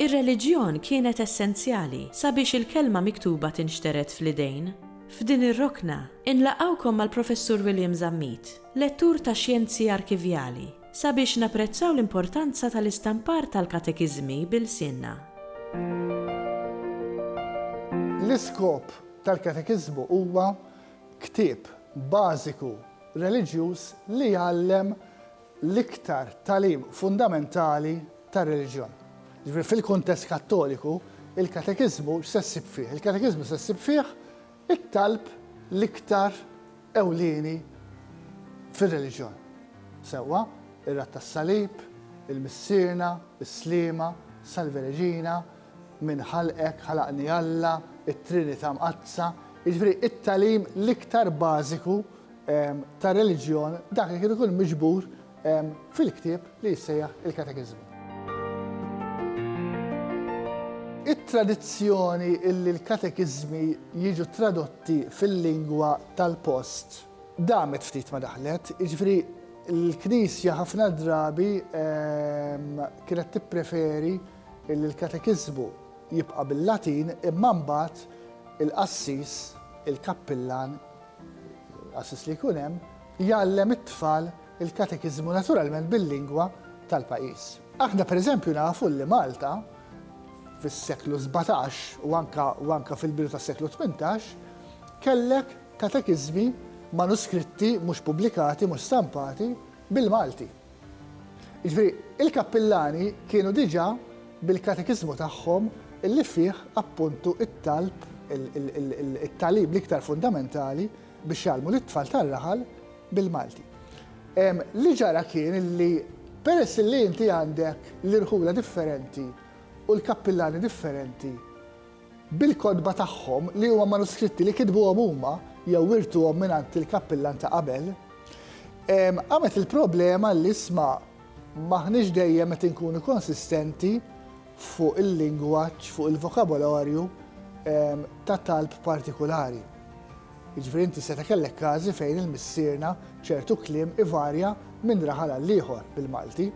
Ir-reliġjon kienet essenzjali sabiex il-kelma miktuba tinxtered fl-idejn. F'din ir-rokna, inlaqgħukom mal-Professur William Zammit, lettur ta' Xjenzi Arkivjali, Sabiex napprezzaw l-importanza tal-istampar tal-katekiżmi b'ilsienna. L-iskop tal-katekiżmu huwa ktieb bażiku reliġjuż li jgħallem l-iktar tagħlim fundamentali tar-reliġjon. Jiġifieri fil-kuntest Kattoliku, il-katekiżmu x'se ssib fih? Il-katekiżmu se ssib fih It-talb l-iktar ewlieni fir-reliġjon. Sewwa, ir-Rat tas-Salib, il-Missierna, is-Sliema, Salve Regina, Min ħalqek, Ħalaqni Alla, it-Trinita' Mqaddsa, jiġifieri it-tagħlim l-iktar bażiku tar-reliġjon dak li kien ikun miġbur fil-ktieb li jissejjaħ il-Katekiżmu. It-tradizzjoni illi l-katekiżmi jiġu tradotti fil-lingwa tal-post damet ftit ma daħlet, jiġifieri l-Knisja ħafna drabi ehm, kienet tippreferi illi l-katekiżmu jibqa' bil-Latin imma mbagħad il-qassis, il-kappillan L-qassis li jkun hemm jgħallem it-tfal il-katekiżmu naturalment bil-lingwa tal-pajjiż. Aħna pereżempju nafu li Malta fis-seklu sbatax u anke u anke fil-bidu tas-seklu tmintax kellek katekiżmi manuskritti mhux pubblikati, mhux stampati, bil-Malti. Jiġifieri, il-kappillani kienu diġà bil-katekiżmu tagħhom li fih appuntu t-talb, it-tagħlim l-iktar fundamentali biex jgħallmu lit-tfal tar-raħal bil-Malti. Li ġara kien li peress li inti għandek l-irħula differenti u l-kappillani differenti, bil-kotba tagħhom li huma manuskritti li kitbuhom huma jew wirtuhom mingħand il-kappillan ta' qabel, qamet il-problema li isma' m'aħniex dejjem qed inkunu konsistenti fuq il-lingwaġġ, fuq il-vokabolarju ta' talb partikulari. Jiġifieri inti seta' kellek każi fejn il-missierna ċertu kliem ivarja minn raħal għall-ieħor bil-Malti.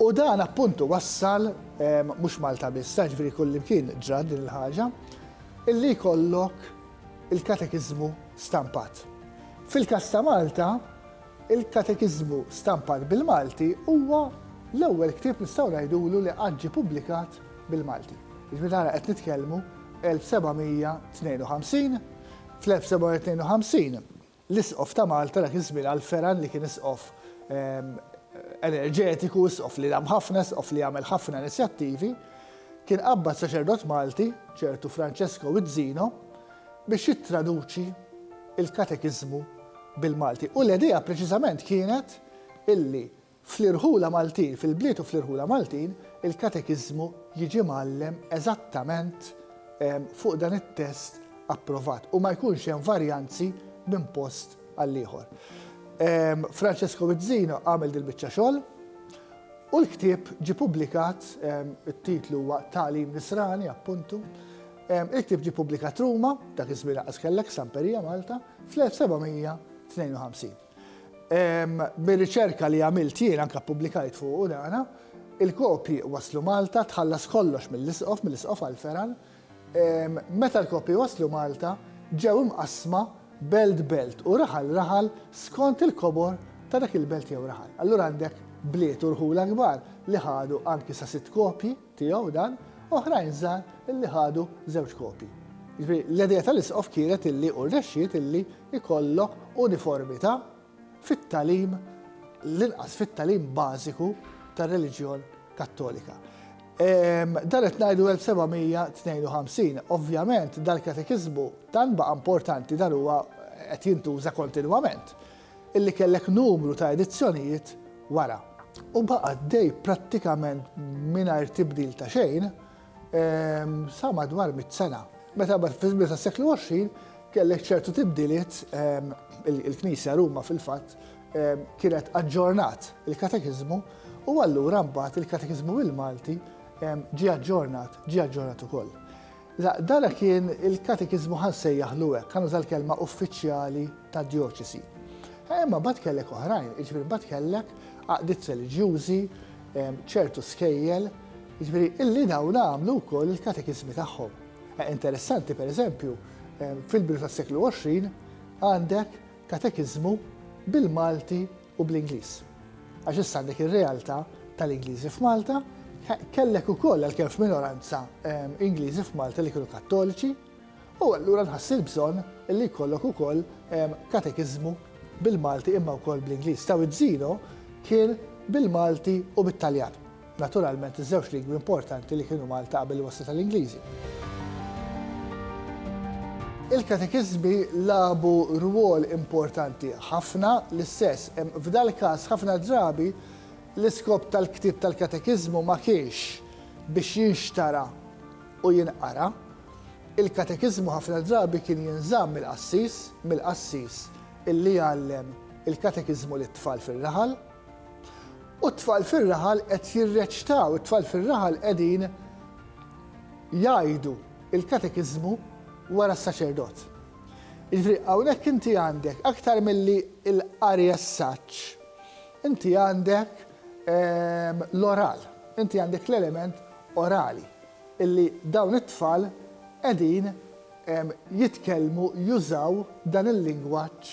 U dan appuntu wassal, mhux Malta biss, jiġifieri kullimkien ġrat din il-ħaġa, illi jkollok il-katekiżmu stampat. Fil-każ ta' Malta, il-katekiżmu stampat bil-Malti huwa l-ewwel ktieb nistgħu ngħidulu li qatt ġie pubblikat bil-Malti. Jiġifieri tara qed nitkellmu 1752, fl-1752 L-Isqof ta' Malta dak iż-żmien għal Ferran li kien Isqof enerġetiku, Isqof li dam ħafna, Isqof li għamel ħafna inizjattivi, kien qabbad saċerdot Malti, ċertu Francesco Wizzino, biex jittraduċi l-Katekiżmu bil-Malti. U l-idea preċiżament kienet illi Fl-irħula Maltin, fil-bliet u fl-irħula Maltin, il-katekiżmu jiġi mgħallem eżattament fuq dan it-test approvat u ma jkunx hemm varjanzi minn post għal ieħor. Francesco Vizzino għamel dil-biċċa xogħol u l-ktieb ġi pubblikat, it-titlu huwa Tagħlim Nisrani, appuntu, il-ktieb ġi pubblikat Ruma, dak iż-żmien laqas kellek Samperija Malta, fl-1752. Mir-riċerka li għamilt jien, anke ppubblikajt fuqu dana, il-kopji waslu Malta, tħallas kollox mill-isqof, mill-isqof Alferan. Meta l-kopji waslu Malta, ġew imqassma belt belt u raħal raħal skont il-kobor ta' dak il-belt jew raħal. Allura għandek bliet u rħula kbar li ħadu anki sa sitt kopji. tiegħu dan, oħrajn żgħar illi ħadu żewġ kopji. Jiġifieri l-idea tal-isqof kienet illi u rnexxiet illi jkollok uniformità fit-tagħlim l-inqas fit-tagħlim bażiku tar-reliġjon Kattolika. Dan qed ngħidu 1752, ovvjament dal-katekiżmu tant baqa' importanti dan huwa qed jintuża kontinwament. illi kellek numru ta' edizzjonijiet wara u baqa' għaddej prattikament mingħajr tibdil ta' xejn sa madwar mitt sena. Meta mbagħad fil-bidu tas-seklu 20 kellek ċertu tibdiliet, il-Knisja Ruma fil-fatt kienet aġġornat il-Katekiżmu u allura mbagħad il-Katekiżmu bil-Malti ġie aġġornat, ġie aġġornat ukoll. La, dana kien il-katekiżmu ħa nsejjaħlu hekk, ħa nuża l-kelma uffiċjali tad-djoċesi. Imma mbagħad kellek oħrajn, jiġifieri mbagħad kellek għaqdiet reliġjużi, ċertu skejjel, jiġifieri illi dawn għamlu wkoll il-katekiżmi tagħhom. Eh, interessanti pereżempju, fil-bidu tas-seklu 20 għandek katekiżmu bil-Malti u bl-Ingliż. Għax issa għandek ir-realtà tal-Ingliżi f'Malta, kellek ukoll għalkemm f'minoranza Ingliżi f'Malta li kienu Kattoliċi, u allura nħass il-bżonn li jkollok ukoll katekiżmu bil-Malti imma wkoll bl-Ingliż. Taw iż-żino kien bil-Malti u bit-Taljan. Naturalment iż-żewġ lingwi importanti li kienu Malta qabel il-wasla tal-Ingliżi. Il-katekiżmi lagħbu rwol importanti ħafna, l-istess, f'dal-każ ħafna drabi l-iskop tal-ktieb tal-katekiżmu ma kienx biex jinxtara u jinqara. Il-katekiżmu ħafna drabi kien jinżamm mill-qassis, mill-qassis illi jgħallem il-katekiżmu lit-tfal fir-raħal. U t-tfal fir-raħal qed jirreċtaw, it-tfal fir-raħal qegħdin jgħidu l-katekiżmu wara s-saċerdot. Jiġifieri hawnhekk inti għandek aktar milli l-qari as-saġġ, inti għandek l-oral, inti għandek l-element orali illi dawn it-tfal qegħdin jitkellmu, jużaw dan il-lingwaġġ